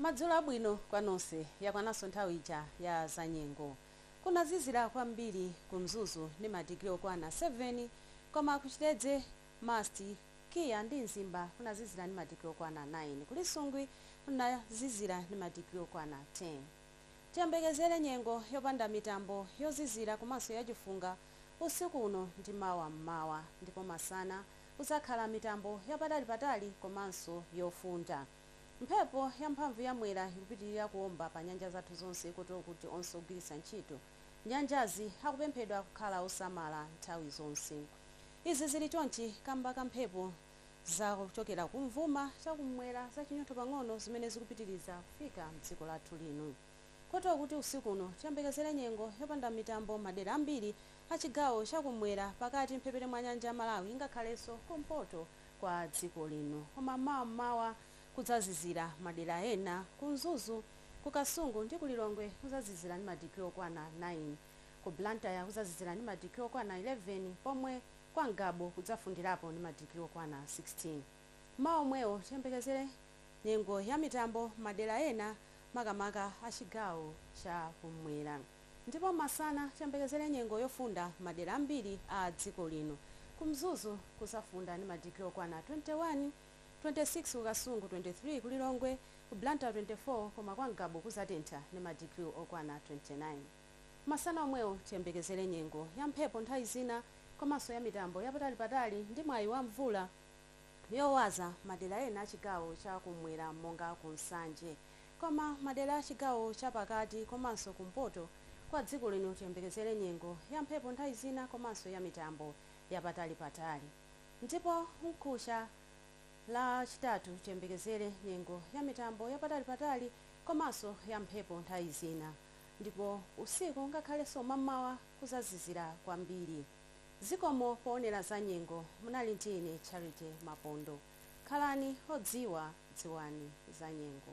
Madzulo abwino kwa nonse. Yakwananso nthawi ija ya zanyengo. Kunazizira kwambiri ku Mzuzu ndi madigiri okwana 7 koma ku Chitedze, MUST, KIA ndi Mzimba kunazizira ndi madigiri okwana 9. Ku Lisungwi kunazizira ndi madigiri okwana 10. Tiyembekezere nyengo yopanda mitambo, yozizira komanso yachifunga usiku uno ndi mawa m'mawa ndipo masana. kudzakhala mitambo yapatalipatali komanso yofunda. Mphepo yamphamvu ya Mwera ikupitilira kuomba pa nyanja zathu zonse kotero kuti onse ogwiritsa ntchito nyanjazi akupemphedwa kukhala osamala nthawi zonse. Izi zili chonchi kamba ka mphepo za kuchokera kumvuma chakum'mwera zachinyontho pang'ono zimene zikupitiliza kufika mdziko lathu lino. kotero kuti usiku uno tiyembekezere nyengo yopanda mitambo m'madera ambiri a chigawo cha kum'mwera, pakati, m'mphepete mwa nyanja ya Malawi ngakhalenso kumpoto kwa dziko lino koma mawa m'mawa kudzazizira. Madera ena ku Mzuzu, ku Kasungu ndi ku Lilongwe kuzazizira ndi madigiri okwana 9. Ku Blantyre kuzazizira ndi madigiri okwana 11 pomwe kwa Ngabu kudzafundirapo ndi madigiri okwana 16. Mawa omwewo tiyembekezere. nyengo ya mitambo madera ena makamaka a chigawo cha kummwera ndipo masana tiyembekezere nyengo yofunda madera ambiri a dziko lino. Ku Mzuzu kuzafunda ndi madigiri okwana 21, 26 ku Kasungu, 23 ku Lilongwe, ku Blantyre 24 koma kwa Ngabu kuzatentha ndi madigiri okwana 29. Masana omwewo tiyembekezere nyengo ya mphepo nthawi zina komanso ya mitambo ya patalipatali ndi mwayi wa mvula. yowaza madera ena a chigawo cha kummwera monga ku Nsanje. Koma madera a chigawo cha pakati komanso kumpoto kwa dziko lino tiyembekezere nyengo ya mphepo nthawi zina komanso ya mitambo ya patalipatali. Ndipo mkuja Lachitatu tiyembekezere nyengo ya mitambo ya patalipatali komanso ya mphepo nthawi zina. Ndipo usiku ngakhalenso mammawa kuzazizira kwambiri. Zikomo poonera za nyengo. Munali ndi ine Charity Mapondo. Khalani odziwa, dziwani za nyengo.